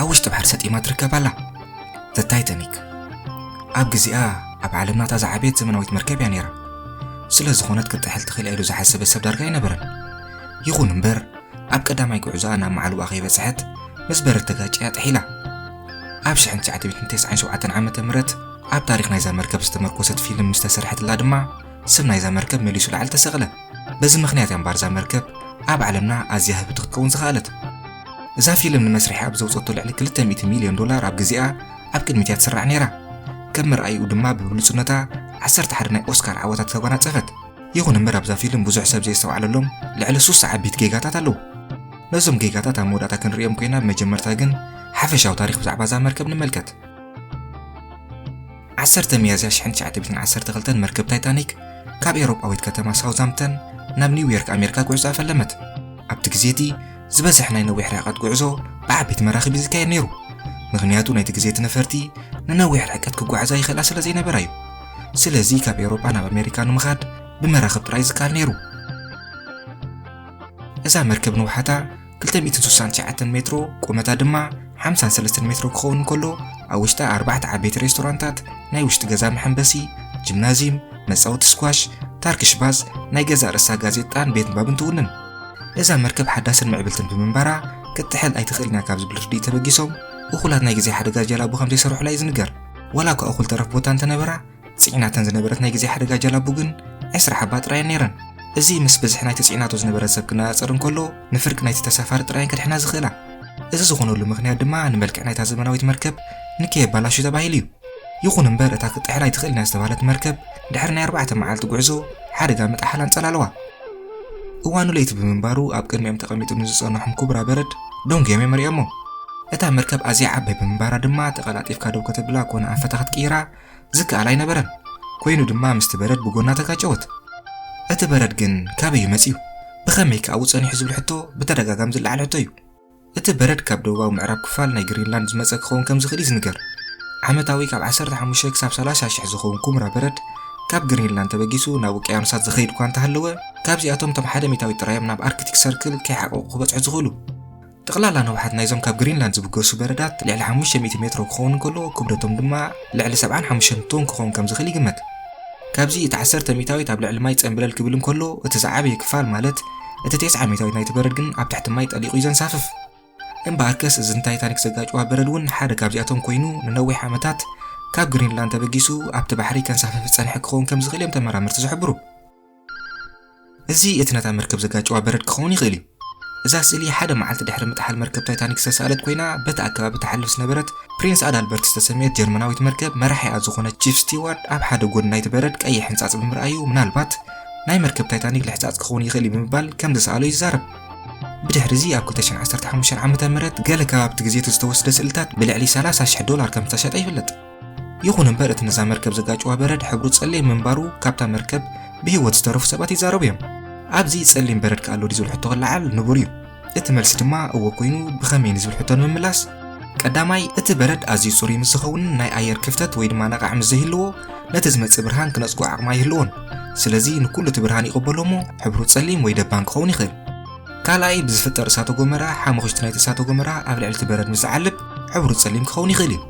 ኣብ ውሽጢ ባሕሪ ሰጢማ ትርከብ ኣላ። The Titanic ኣብ ግዜኣ ኣብ ዓለምና እታ ዝዓበየት ዘመናዊት መርከብ እያ ነይራ። ስለ ዝኾነት ክትጥሕል ትኽእል ኢሉ ዝሓሰበ ሰብ ዳርጋ ኣይነበረን። ይኹን እምበር ኣብ ቀዳማይ ጉዕዞኣ ናብ መዓልቦኣ ከይበጽሐት ምስ በረድ ተጋጭያ ጥሒላ። ኣብ 1997 ዓ ም ኣብ ታሪኽ ናይዛ መርከብ ዝተመርኮሰት ፊልም ምስ ተሰርሐትላ ድማ ስም ናይዛ መርከብ መሊሱ ላዕሊ ተሰቕለ። በዚ ምኽንያት እያ እምበኣር እዛ መርከብ ኣብ ዓለምና ኣዝያ ህብቲ ክትከውን ዝኸኣለት። እዛ ፊልም ንመስርሒ ኣብ ዘውፀቶ ልዕሊ 200 ሚልዮን ዶላር ኣብ ግዜኣ ኣብ ቅድሚት እያ ትስራዕ ነይራ። ከም መርኣይኡ ድማ ብብሉፅነታ ዓሰርተ ሓደ ናይ ኦስካር ዓወታት ተጓናፀፈት። ይኹን እምበር ኣብዛ ፊልም ብዙሕ ሰብ ዘየስተውዓለሎም ልዕሊ ሱሳ ዓበይቲ ጌጋታት ኣለዉ። ነዞም ጌጋታት ኣብ መወዳእታ ክንርእዮም ኮይና ብመጀመርታ ግን ሓፈሻዊ ታሪኽ ብዛዕባ እዛ መርከብ ንመልከት። ዓሰርተ ሚያዝያ ሽሕን ትሽዓተ ሚእትን ዓሰርተ ክልተን መርከብ ታይታኒክ ካብ ኤውሮጳዊት ከተማ ሳውዛምፕተን ናብ ኒውዮርክ ኣሜሪካ ጉዕዞኣ ፈለመት። ኣብቲ ግዜ እቲ ዝበዝሕ ናይ ነዊሕ ርሕቀት ጉዕዞ ብዓበይቲ መራኽብ እዩ ዝካየድ ነይሩ፣ ምኽንያቱ ናይቲ ግዜ እቲ ነፈርቲ ንነዊሕ ርሕቀት ክጓዓዛ ይኽእላ ስለ ዘይነበራ እዩ። ስለዚ ካብ ኤውሮጳ ናብ ኣሜሪካ ንምኻድ ብመራኽብ ጥራይ እዩ ዝከኣል ነይሩ። እዛ መርከብ ንውሓታ 269 ሜትሮ ቁመታ ድማ 53 ሜትሮ ክኸውን እንከሎ ኣብ ውሽጣ ኣርባዕተ ዓበይቲ ሬስቶራንታት፣ ናይ ውሽጢ ገዛ መሐንበሲ፣ ጂምናዝየም፣ መጻወቲ ስኳሽ፣ ታርኪሽ ባዝ፣ ናይ ገዛ ርእሳ ጋዜጣን ቤት ንባብን ትውንን። እዛ መርከብ ሓዳስን ምዕብልትን ብምንባራ ክትጥሕል ኣይትኽእልን እያ ካብ ዝብል ርድኢት ተበጊሶም እኹላት ናይ ግዜ ሓደጋ ጀላቡ ከም ዘይሰርሑላ እዩ ዝንገር። ዋላ እኳ እኹል ተረፍ ቦታ እንተነበራ ጽዒናተን ዝነበረት ናይ ግዜ ሓደጋ ጀላቡ ግን ዕስራ ሓባ ጥራየን ነይረን። እዚ ምስ ብዝሒ ናይቲ ጽዒናቶ ዝነበረ ሰብ ክነጻጸር እንከሎ ንፍርቂ ናይቲ ተሳፋሪ ጥራየን ከድሕና ዝኽእላ። እዚ ዝኾነሉ ምኽንያት ድማ ንመልክዕ ናይታ ዘመናዊት መርከብ ንከየባላሹ ተባሂሉ እዩ። ይኹን እምበር እታ ክትጥሕል ኣይትኽእልን እያ ዝተባህለት መርከብ ድሕሪ ናይ ኣርባዕተ መዓልቲ ጉዕዞ ሓደጋ ምጥሓል ኣንጸላለዋ። እዋኑ ለይቲ ብምንባሩ ኣብ ቅድሚኦም ተቐሚጡ ንዝጸንሖም ኩብራ በረድ ደንጉዮም እዮም መሪኦሞ። እታ መርከብ ኣዝያ ዓባይ ብምንባራ ድማ ተቐላጢፍካ ደው ከተብላ ኮነ ኣንፈታ ክትቅይራ ዝከኣል ኣይነበረን። ኮይኑ ድማ ምስቲ በረድ ብጎና ተጋጨወት። እቲ በረድ ግን ካበይ እዩ መጺኡ? ብኸመይ ከ ኣብኡ ጸኒሑ ዝብል ሕቶ ብተደጋጋሚ ዝለዓል ሕቶ እዩ። እቲ በረድ ካብ ደቡባዊ ምዕራብ ክፋል ናይ ግሪንላንድ ዝመጸ ክኸውን ከም ዝኽእል እዩ ዝንገር። ዓመታዊ ካብ 15 ክሳብ 30 ሽሕ ዝኸውን ኩምራ በረድ ካብ ግሪንላንድ ተበጊሱ ናብ ውቅያኖሳት ዝኸይድ እኳ እንተሃለወ ካብዚኣቶም እቶም ሓደ ሚታዊት ጥራይ እዮም ናብ ኣርክቲክ ሰርክል ከይሓቀቁ ክበጽሑ ዝኽእሉ። ጠቕላላ ንውሓት ናይዞም ካብ ግሪንላንድ ዝብገሱ በረዳት ልዕሊ ሓሙሽተ ሚእቲ ሜትሮ ክኸውን እንከሎ ክብደቶም ድማ ልዕሊ ሰብዓን ሓሙሽተን ቶን ክኸውን ከም ዝኽእል ይግመት። ካብዚ እቲ ዓሰርተ ሚእታዊት ኣብ ልዕሊ ማይ ጸምብለል ክብል እንከሎ እቲ ዝዓበየ ክፋል ማለት እቲ ቴስዓ ሚእታዊት ናይቲ በረድ ግን ኣብ ትሕቲ ማይ ጠሊቑ እዩ ዘንሳፍፍ። እምበኣርከስ እዚ ንታይታኒክ ዘጋጨዋ በረድ እውን ሓደ ካብዚኣቶም ኮይኑ ንነዊሕ ዓመታት ካብ ግሪንላንድ ተበጊሱ ኣብቲ ባሕሪ ከንሳፍፍ ዝጸንሐ ክኸውን ከም ዝኽእል እዮም ተመራመርቲ ዝሕብሩ። እዚ እቲ ነታ መርከብ ዘጋጨዋ በረድ ክኸውን ይኽእል እዩ። እዛ ስእሊ ሓደ መዓልቲ ድሕሪ ምጥሓል መርከብ ታይታኒክ ዝተሳእለት ኮይና በቲ ኣከባቢ ትሓልፍ ዝነበረት ፕሪንስ ኣዳልበርት ዝተሰምየት ጀርመናዊት መርከብ መራሒኣ ዝኾነ ቺፍ ስቲዋርድ ኣብ ሓደ ጎድኒ ናይቲ በረድ ቀይሕ ሕንጻጽ ብምርኣዩ ምናልባት ናይ መርከብ ታይታኒክ ልሕጻጽ ክኸውን ይኽእል እዩ ብምባል ከም ዝሰኣሎ ይዛረብ። ብድሕሪ እዚ ኣብ 2015 ዓ.ም ገለ ከባብቲ ግዜቲ ዝተወስደ ስእልታት ብልዕሊ 30,000 ዶላር ከም ዝተሸጠ ይፍለጥ። ይኹን እምበር እቲ ነዛ መርከብ ዘጋጭዋ በረድ ሕብሩ ጸሊም ምንባሩ ካብታ መርከብ ብህይወት ዝተረፉ ሰባት ይዛረቡ እዮም ኣብዚ ጸሊም በረድ ከ ኣሎ ድዩ ዝብል ሕቶ ክለዓል ንቡር እዩ እቲ መልሲ ድማ እወ ኮይኑ ብኸመይ ንዝብል ሕቶ ንምምላስ ቀዳማይ እቲ በረድ ኣዝዩ ጽሩይ ምስ ዝኸውን ናይ ኣየር ክፍተት ወይ ድማ ነቓዕ ምስ ዘይህልዎ ነቲ ዝመጽእ ብርሃን ክነጽጎ ዓቕሚ ኣይህልዎን ስለዚ ንኩሉ እቲ ብርሃን ይቕበሎ እሞ ሕብሩ ጸሊም ወይ ደባን ክኸውን ይኽእል ካልኣይ ብዝፍጠር እሳተ ጎመራ ሓሙኽሽቲ ናይቲ እሳተ ጎመራ ኣብ ልዕሊ እቲ በረድ ምስ ዝዓልብ ሕብሩ ጸሊም ክኸውን ይኽእል እዩ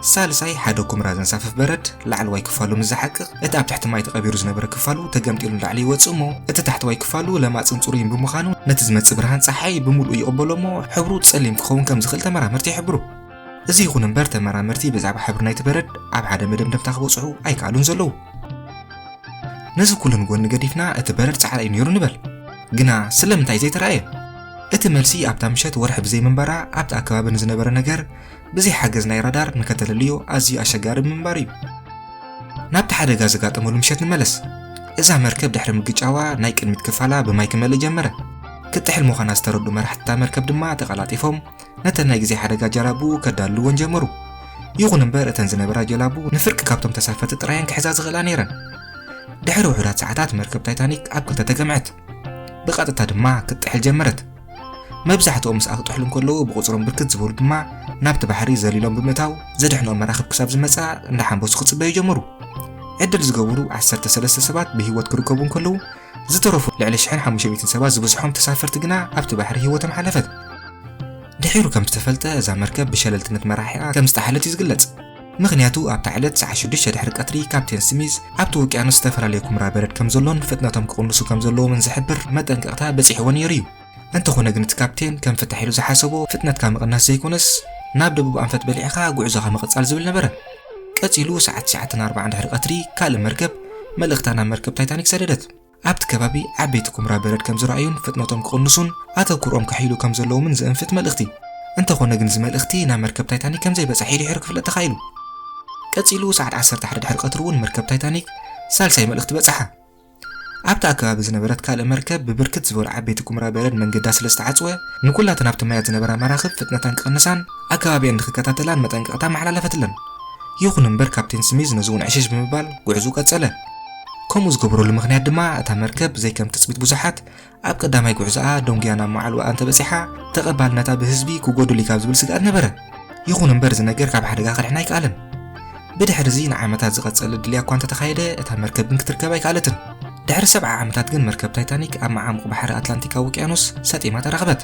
ሳልሳይ ሓደ ኩምራ ዘንሳፍፍ በረድ ላዕለዋይ ክፋሉ ምስ ዝሓቅቕ እቲ ኣብ ትሕቲ ማይ ተቐቢሩ ዝነበረ ክፋሉ ተገምጢሉ ንላዕሊ ይወጽእ እሞ እቲ ታሕተዋይ ክፋሉ ለማጽን ጽሩይን ብምዃኑ ነቲ ዝመጽእ ብርሃን ጸሓይ ብምልኡ ይቕበሎ እሞ ሕብሩ ጸሊም ክኸውን ከም ዝኽእል ተመራመርቲ ይሕብሩ። እዚ ይኹን እምበር ተመራመርቲ ብዛዕባ ሕብሪ ናይቲ በረድ ኣብ ሓደ መደምደምታ ክበጽሑ ኣይከኣሉን ዘለዉ። ነዚ ኩሉ ንጎኒ ገዲፍና እቲ በረድ ጻዕዳ እዩ ነይሩ ንበል፣ ግና ስለምንታይ ዘይተራእየ? እቲ መልሲ ኣብታ ምሸት ወርሒ ብዘይምንባራ ኣብቲ ኣከባቢ ንዝነበረ ነገር ብዘይ ሓገዝ ናይ ራዳር ንከተለልዮ ኣዝዩ ኣሸጋሪ ብምንባሩ እዩ። ናብቲ ሓደጋ ዘጋጠመሉ ምሸት ንመለስ። እዛ መርከብ ድሕሪ ምግጫዋ ናይ ቅድሚት ክፋላ ብማይ ክመልእ ጀመረ። ክትጥሕል ምዃና ዝተረዱ መራሕቲ እታ መርከብ ድማ ተቐላጢፎም ነተን ናይ ግዜ ሓደጋ ጀላቡ ከዳልወን ጀመሩ። ይኹን እምበር እተን ዝነበራ ጀላቡ ንፍርቂ ካብቶም ተሳፈርቲ ጥራየን ክሕዛ ዝኽእላ ነይረን። ድሕሪ ውሑዳት ሰዓታት መርከብ ታይታኒክ ኣብ ክልተ ተገምዐት። ብቐጥታ ድማ ክትጥሕል ጀመረት። መብዛሕትኦም ምስኣ ክጥሕሉ እንከለዉ ብቑጽሮም ብርክት ዝበሉ ድማ ናብቲ ባሕሪ ዘሊሎም ብምእታው ዘድሕኖም መራኽብ ክሳብ ዝመጽኣ እንዳሓንበሱ ክጽበዩ ጀመሩ። ዕድል ዝገበሩ ዓሰርተ ሰለስተ ሰባት ብህይወት ክርከቡ እንከለዉ ዝተረፉ ልዕሊ ሽሕን ሓሙሽተ ሚእትን ሰባት ዝበዝሖም ተሳፈርቲ ግና ኣብቲ ባሕሪ ህይወቶም ሓለፈት። ድሒሩ ከም ዝተፈልጠ እዛ መርከብ ብሸለልትነት መራሒኣ ከም ዝጠሓለት እዩ ዝግለጽ። ምኽንያቱ ኣብታ ዕለት ሰዓት ሽዱሽተ ድሕሪ ቀትሪ ካፕቴን ስሚዝ ኣብቲ ውቅያኖስ ዝተፈላለየ ኩምራ በረድ ከም ዘሎን ፍጥነቶም ክቕንሱ ከም ዘለዎምን ዝሕብር መጠንቀቕታ በጺሕዎ ነይሩ እዩ። እንተኾነ ግን እቲ ካፕቴን ከም ፍታሕ ኢሉ ዝሓሰቦ ፍጥነትካ ምቕናስ ዘይኮነስ ናብ ደቡብ ኣንፈት በሊዕኻ ጉዕዞኻ ምቕጻል ዝብል ነበረ። ቀጺሉ ሰዓት ትሽዓተን ኣርባዓን ድሕሪ ቀትሪ ካልእ መርከብ መልእኽታ ናብ መርከብ ታይታኒክ ሰደደት። ኣብቲ ከባቢ ዓበይቲ ኩምራ በረድ ከም ዝረኣዩን ፍጥነቶም ክቕንሱን ኣተኩሮኦም ከሕይሉ ከም ዘለዎምን ዘእንፍት መልእኽቲ። እንተኾነ ግን እዚ መልእኽቲ ናብ መርከብ ታይታኒክ ከም ዘይበጻሒ ድሒሩ ክፍለጥ ተኻኢሉ። ቀጺሉ ሰዓት ዓሰርተ ሓደ ድሕሪ ቀትሪ እውን መርከብ ታይታኒክ ሳልሳይ መልእኽቲ በጽሓ። ኣብቲ ኣከባቢ ዝነበረት ካልእ መርከብ ብብርክት ዝበሉ ዓበይቲ ኩምራ በረድ መንገዳ ስለ ዝተዓጽወ ንኩላተን ኣብቲ ማያት ዝነበራ መራኽብ ፍጥነተን ክቕንሳን ኣከባቢኣን ንክከታተላን መጠንቀቕታ ኣመሓላለፈትለን። ይኹን እምበር ካፕቴን ስሚዝ ነዚ እውን ዕሽሽ ብምባል ጉዕዝኡ ቀጸለ። ከምኡ ዝገበረሉ ምኽንያት ድማ እታ መርከብ ብዘይ ከም ትጽቢት ብዙሓት ኣብ ቀዳማይ ጉዕዞኣ ደንጉያ ናብ መዓልቦኣ እንተበጺሓ ተቐባልነታ ብህዝቢ ክጎድል'ዩ ካብ ዝብል ስግኣት ነበረ። ይኹን እምበር እዚ ነገር ካብ ሓደጋ ከድሕና ኣይከኣለን። ብድሕርዚ ንዓመታት ዝቐጸለ ድልያ እኳ እንተተኻየደ እታ መርከብ ግን ክትርከብ ኣይከኣለትን። ድሕሪ ሰብዓ ዓመታት ግን መርከብ ታይታኒክ ኣብ መዓሙቕ ባሕሪ ኣትላንቲካዊ ውቅያኖስ ሰጢማ ተረኽበት።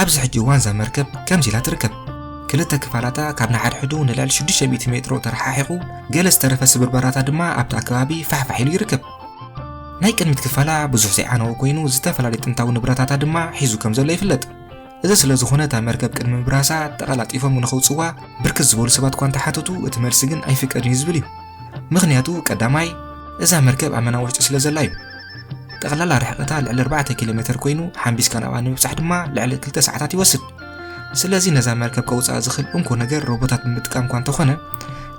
ኣብዚ ሕጂ እዋን እዛ መርከብ ከምዚ ኢላ ትርከብ ክልተ ክፋላታ ካብ ንሓድሕዱ ንልዕሊ 600 ሜትሮ ተረሓሒቑ ገለ ዝተረፈ ስብርበራታ ድማ ኣብቲ ኣከባቢ ፋሕፋሕ ኢሉ ይርከብ ናይ ቅድሚት ክፋላ ብዙሕ ዘይዓነወ ኮይኑ ዝተፈላለዩ ጥንታዊ ንብረታታ ድማ ሒዙ ከም ዘሎ ይፍለጥ እዚ ስለ ዝኾነ እታ መርከብ ቅድሚ ምብራሳ ተቐላጢፎም ንኸውፅዋ ብርክት ዝበሉ ሰባት እኳ እንተሓተቱ እቲ መልሲ ግን ኣይፍቀድን እዩ ዝብል እዩ ምክንያቱ ቀዳማይ እዛ መርከብ ኣብ መና ውሽጢ ስለ ዘላ እዩ ጠቕላላ ርሕቐታ ልዕሊ 4 ኪሎ ሜተር ኮይኑ ሓምቢስካ ናብኣ ንምብጻሕ ድማ ልዕሊ 2 ሰዓታት ይወስድ። ስለዚ ነዛ መርከብ ከውጽኣ ዝኽእል እንኮ ነገር ሮቦታት ብምጥቃም እኳ እንተኾነ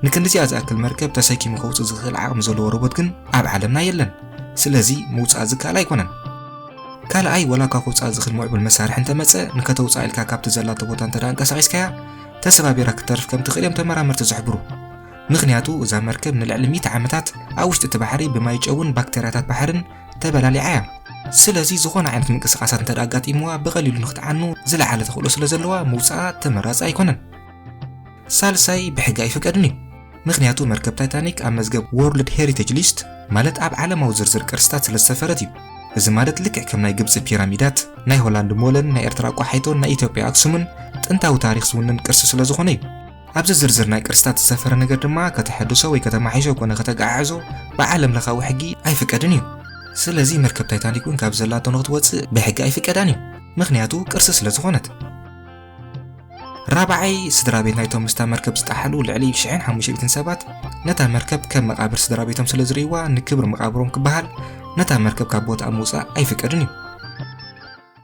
ንክንድዚኣ ዝኣክል መርከብ ተሰኪሙ ከውጽእ ዝኽእል ዓቕሚ ዘለዎ ሮቦት ግን ኣብ ዓለምና የለን። ስለዚ ምውጻእ ዝከኣል ኣይኮነን። ካልኣይ ወላ እኳ ከውጽኣ ዝኽእል ምዕቡል መሳርሒ እንተመጸ ንከተውጽኣ ኢልካ ካብቲ ዘላቶ ቦታ እንተ ኣንቀሳቒስካያ ተሰባቢራ ክትተርፍ ከም ትኽእል እዮም ተመራመርቲ ዝሕብሩ። ምኽንያቱ እዛ መርከብ ንልዕሊ ሚእቲ ዓመታት ኣብ ውሽጢ እቲ ባሕሪ ብማይ ጨውን ባክተርያታት ባሕርን ተበላሊዓ እያ። ስለዚ ዝኾነ ዓይነት ምንቅስቓሳት እንተድኣ ኣጋጢምዋ ብቐሊሉ ንክትዓኑ ዝለዓለ ተኽእሎ ስለ ዘለዋ ምውጽኣ ተመራጺ ኣይኮነን። ሳልሳይ ብሕጊ ኣይፍቀድን እዩ። ምኽንያቱ መርከብ ታይታኒክ ኣብ መዝገብ ዎርልድ ሄሪቴጅ ሊስት ማለት ኣብ ዓለማዊ ዝርዝር ቅርስታት ስለ ዝሰፈረት እዩ። እዚ ማለት ልክዕ ከም ናይ ግብጺ ፒራሚዳት፣ ናይ ሆላንድ ሞለን፣ ናይ ኤርትራ ቋሓይቶን ናይ ኢትዮጵያ ኣክሱምን ጥንታዊ ታሪኽ ዝውንን ቅርሲ ስለ ዝኾነ እዩ። ኣብዚ ዝርዝር ናይ ቅርስታት ዝሰፈረ ነገር ድማ ከተሐድሶ ወይ ከተማሒሾ ኮነ ከተጋዓዕዞ ብዓለም ለኻዊ ሕጊ ኣይፍቀድን እዩ። ስለዚ መርከብ ታይታኒክ እውን ካብ ዘላቶ ንክትወፅእ ብሕጊ ኣይፍቀዳን እዩ፣ ምክንያቱ ቅርሲ ስለ ዝኾነት። ራብዓይ ስድራ ቤት ናይቶም ምስታ መርከብ ዝጠሓሉ ልዕሊ ሽሕን ሓሙሽተ ሰባት ነታ መርከብ ከም መቃብር ስድራ ቤቶም ስለ ዝርእይዋ ንክብሪ መቃብሮም ክበሃል ነታ መርከብ ካብ ቦታኣ ምውፃእ ኣይፍቀድን እዩ።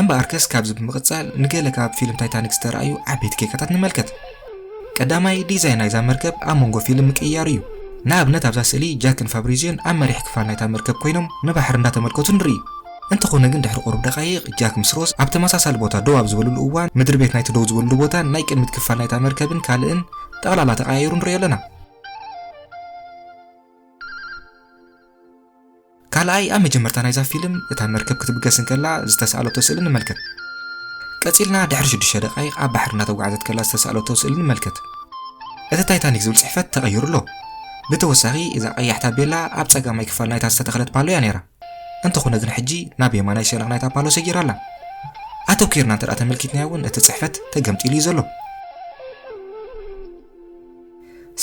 እምበኣርከስ ካብዚ ብምቕጻል ንገለ ካብ ፊልም ታይታኒክ ዝተራእዩ ዓበይቲ ጌጋታት ንመልከት። ቀዳማይ ዲዛይን ናይዛ መርከብ ኣብ መንጎ ፊልም ምቅይያሩ እዩ። ንኣብነት ኣብዛ ስእሊ ጃክን ፋብሪዝዮን ኣብ መሪሕ ክፋል ናይታ መርከብ ኮይኖም ንባሕሪ እንዳተመልከቱ ንርኢ። እንተኾነ ግን ድሕሪ ቁሩብ ደቃይቕ ጃክ ምስ ሮዝ ኣብ ተመሳሳሊ ቦታ ደው ኣብ ዝበልሉ እዋን ምድሪ ቤት ናይቲ ደው ዝበልሉ ቦታን ናይ ቅድሚት ክፋል ናይታ መርከብን ካልእን ጠቕላላ ተቐያይሩ ንሪኦ ኣለና። ካልኣይ፣ ኣብ መጀመርታ ናይዛ ፊልም እታ መርከብ ክትብገስ እንከላ ዝተሳእለቶ ስእሊ ንመልከት። ቀጺልና ድሕሪ ሽዱሽተ ደቓይቕ ኣብ ባሕሪ እናተጓዕዘት ከላ ዝተሳእለቶ ስእሊ ንመልከት። እቲ ታይታኒክ ዝብል ጽሕፈት ተቐይሩ ኣሎ። ብተወሳኺ እዛ ቀያሕ ታቤላ ኣብ ጸጋማይ ክፋል ናይታ ዝተተኽለት ፓሎ እያ ነይራ። እንተኾነ ግን ሕጂ ናብ የማናይ ሸነኽ ናይታ ፓሎ ሰጊራ ኣላ። ኣተኲርና እንተድኣ ተመልኪትናዮ እውን እቲ ጽሕፈት ተገምጢሉ እዩ ዘሎ።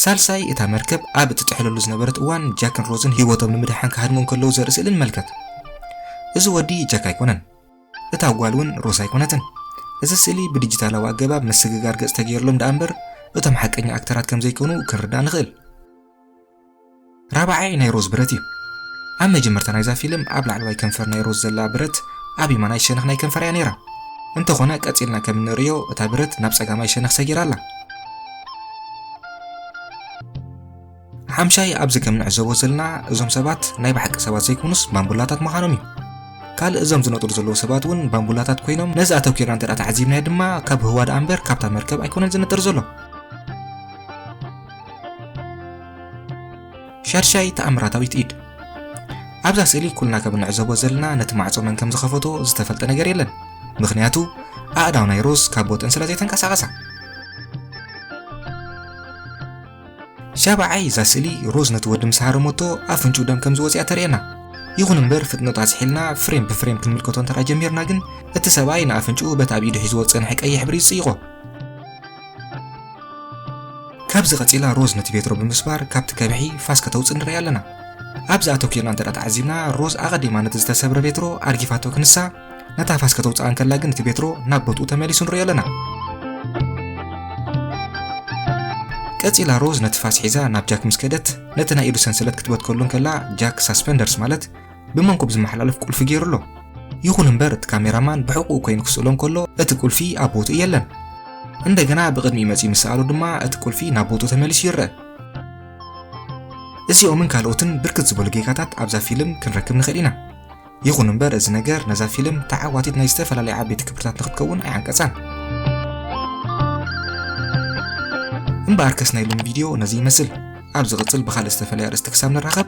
ሳልሳይ፣ እታ መርከብ ኣብ እትጥሕለሉ ዝነበረት እዋን ጃክን ሮዝን ህይወቶም ንምድሓን ክሃድሙ እንከለዉ ዘርኢ ስእሊ ንመልከት። እዚ ወዲ ጃክ ኣይኮነን፣ እታ ጓል እውን ሮዝ ኣይኮነትን። እዚ ስእሊ ብዲጂታላዊ ኣገባብ ምስግጋር ገጽ ተገይርሎም ደኣ እምበር እቶም ሓቀኛ ኣክተራት ከም ዘይኮኑ ክንርዳእ ንኽእል። ራብዓይ ናይ ሮዝ ብረት እዩ ኣብ መጀመርታ ናይዛ ፊልም ኣብ ላዕለዋይ ከንፈር ናይ ሮዝ ዘላ ብረት ኣብ የማናይ ሸነኽ ናይ ከንፈራ እያ ነይራ እንተኾነ ቀጺልና ከም እንርእዮ እታ ብረት ናብ ጸጋማይ ሸነኽ ሰጊራ ኣላ ሓምሻይ ኣብዚ ከም ንዕዘቦ ዘለና እዞም ሰባት ናይ ባሓቂ ሰባት ዘይኮኑስ ባምቡላታት ምዃኖም እዩ ካልእ እዞም ዝነጥሩ ዘለዉ ሰባት እውን ባምቡላታት ኮይኖም ነዚ ኣተኪርና እንተ ተዓዚብናዮ ድማ ካብ ህዋ ደኣ እምበር ካብታ መርከብ ኣይኮነን ዝነጥር ዘሎ ሻድሻይ ተኣምራታዊት ኢድ ኣብዛ ስእሊ ኩልና ከም እንዕዘቦ ዘለና ነቲ ማዕጾ መን ከም ዝኸፈቶ ዝተፈልጠ ነገር የለን ምክንያቱ ኣእዳው ናይ ሮዝ ካብ ቦተን ስለ ዘይተንቀሳቐሳ ሻብዓይ እዛ ስእሊ ሮዝ ነቲ ወዲ ምስ ሃረመቶ ኣፍንጩ ደም ከም ዝወፅያ ተርእየና ይኹን እምበር ፍጥነቱ ኣዝሒልና ፍሬም ብፍሬም ክንምልከቶ እንተ ጀሚርና ግን እቲ ሰብኣይ ንኣፍንጭኡ በቲ ኣብ ኢዱ ሒዝዎ ዝፀንሐ ቀይሕ ሕብሪ ይፅይቖ ካብዚ ቀጺላ ሮዝ ነቲ ቬትሮ ብምስባር ካብቲ ከብሒ ፋስ ከተውጽእ ንርኢ ኣለና። ኣብዚ ኣተኲርና እንተ ተዓዚብና ሮዝ ኣቐዲማ ነቲ ዝተሰብረ ቬትሮ ኣርጊፋቶ ክንሳ ነታ ፋስ ከተውጽኣ እንከላ ግን እቲ ቬትሮ ናብ ቦትኡ ተመሊሱ ንርኢ ኣለና። ቀጺላ ሮዝ ነቲ ፋስ ሒዛ ናብ ጃክ ምስ ከደት ነቲ ናይ ኢዱ ሰንሰለት ክትበትከሉ እንከላ ጃክ ሳስፐንደርስ ማለት ብመንኩብ ዝመሓላለፍ ቁልፊ ገይሩ ኣሎ። ይኹን እምበር እቲ ካሜራማን ብሕቑኡ ኮይኑ ክስእሎ እንከሎ እቲ ቁልፊ ኣብ ቦትኡ የለን። እንደገና ብቕድሚኡ መጺኡ ምስ ሰኣሎ ድማ እቲ ቁልፊ ናብ ቦትኡ ተመሊሱ ይረአ። እዚኦምን ካልኦትን ብርክት ዝበሉ ጌጋታት ኣብዛ ፊልም ክንረክብ ንኽእል ኢና። ይኹን እምበር እዚ ነገር ነዛ ፊልም ተዓዋቲት ናይ ዝተፈላለዩ ዓበይቲ ክብርታት ንክትከውን ኣይዓንቀጻን። እምበኣርከስ ናይ ሎሚ ቪድዮ ነዚ ይመስል። ኣብ ዝቕጽል ብኻልእ ዝተፈለየ ኣርእስቲ ክሳብ ንራኸብ